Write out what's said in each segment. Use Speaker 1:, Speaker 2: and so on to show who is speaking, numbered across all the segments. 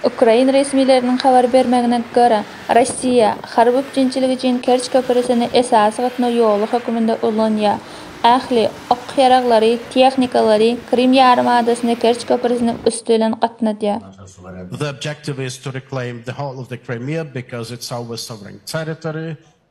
Speaker 1: Ukrain resmileriniň habar bermegine görä, Russiýa harby üpjünçilik üçin Kerç köprüsini esasy gatnaw ýoly hökmünde ulanýar. Ähli ok ýaraglary, tehnikalary Krym ýarym adasyna Kerç köprüsiniň üsti bilen
Speaker 2: gatnadýar.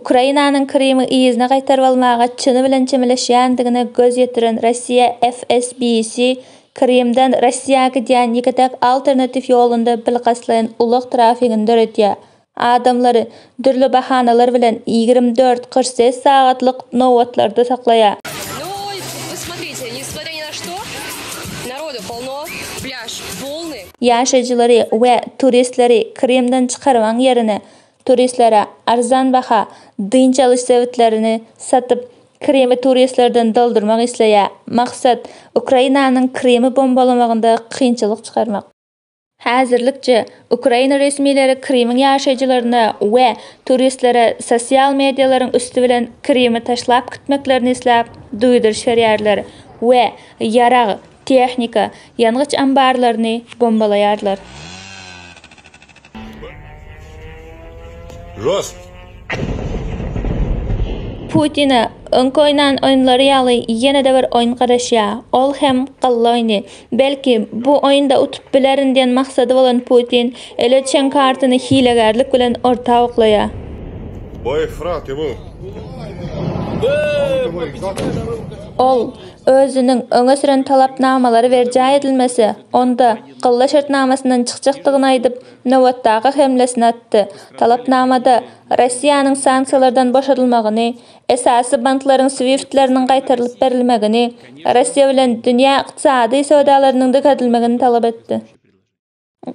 Speaker 1: Ukrainanyň Krymy yzyna gaýtaryp almaga çyny bilen çemeleşýändigine göz ýetiren Russiýa FSBC Krymdan Russiýa gidýän ýeke-täk alternatiw ýolunda bilkastlaýyn ulag trafigini döredýär, adamlary dürli bahanalar bilen ýigrimi dört kyrk sekiz sagatlyk nobatlarda saklaýar. Ýaşaýjylary we turistleri Krymdan çykarmagyň ýerine, Turistlere arzan baha dynç alyş sebitlerini satyp, Krymy turistlerden doldurmak isleýär. Maksat, Ukrainanyň Krymy bombalamagynda kynçylyk çykarmak. Häzirlikçe, ukrain resmileri Krymyň ýaşaýjylaryna we turistlere sosial medialaryň üsti bilen Krymy taşlap gitmeklerini isläp duýduryş berýärler we ýarag, Tehnika, ýangyç ambarlaryny bombalaýarlar. Rost. Putine öňki oýnan oýunlary ýaly ýene-de bir oýun garaşýar, ol hem galla oýny. Belki, bu oýunda utup bilerin diýen maksady bolan Putin ele çen kartyny hilegärlik bilen orta oklaýar. Boý, fyragty bu. Ol, özüniň öňe süren talapnamalary berjaý edilmese, onda Gylla şertnamasyndan çykjakdygyny aýdyp, nobatdaky hemlesini atdy. Talapnamada Russiýanyň sanksiýalardan boşadylmagyny, esasy banklaryň swiftleriniň gaýtarylyp berilmegini, Russiýa bilen dünýä ykdysady söwdalarynyň dikeltilmegini talap etdi.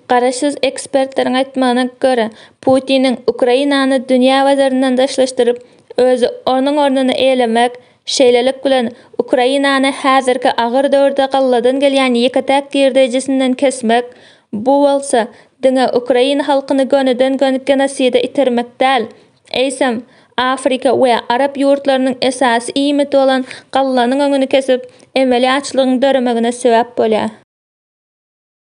Speaker 1: Garaşsyz ekspertleriň aýtmagyna görä, Putiniň Ukrainany dünýä bazaryndan daşlaşdyryp, özi onuň ornuny eýlemek, şeýlelik bilen, Ukrainany häzirki agyr döwürde galladan gelýän ýeke-täk girdeýjisinden kesmek, bu bolsa, diňe ukrain halkyny gönüden-gön genoside itermek däl, eýsem, Afrika we arap ýurtlarynyň esasy iýmiti bolan gallanyň öňüni kesip, emeli açlygyň döremegine sebäp bolýar.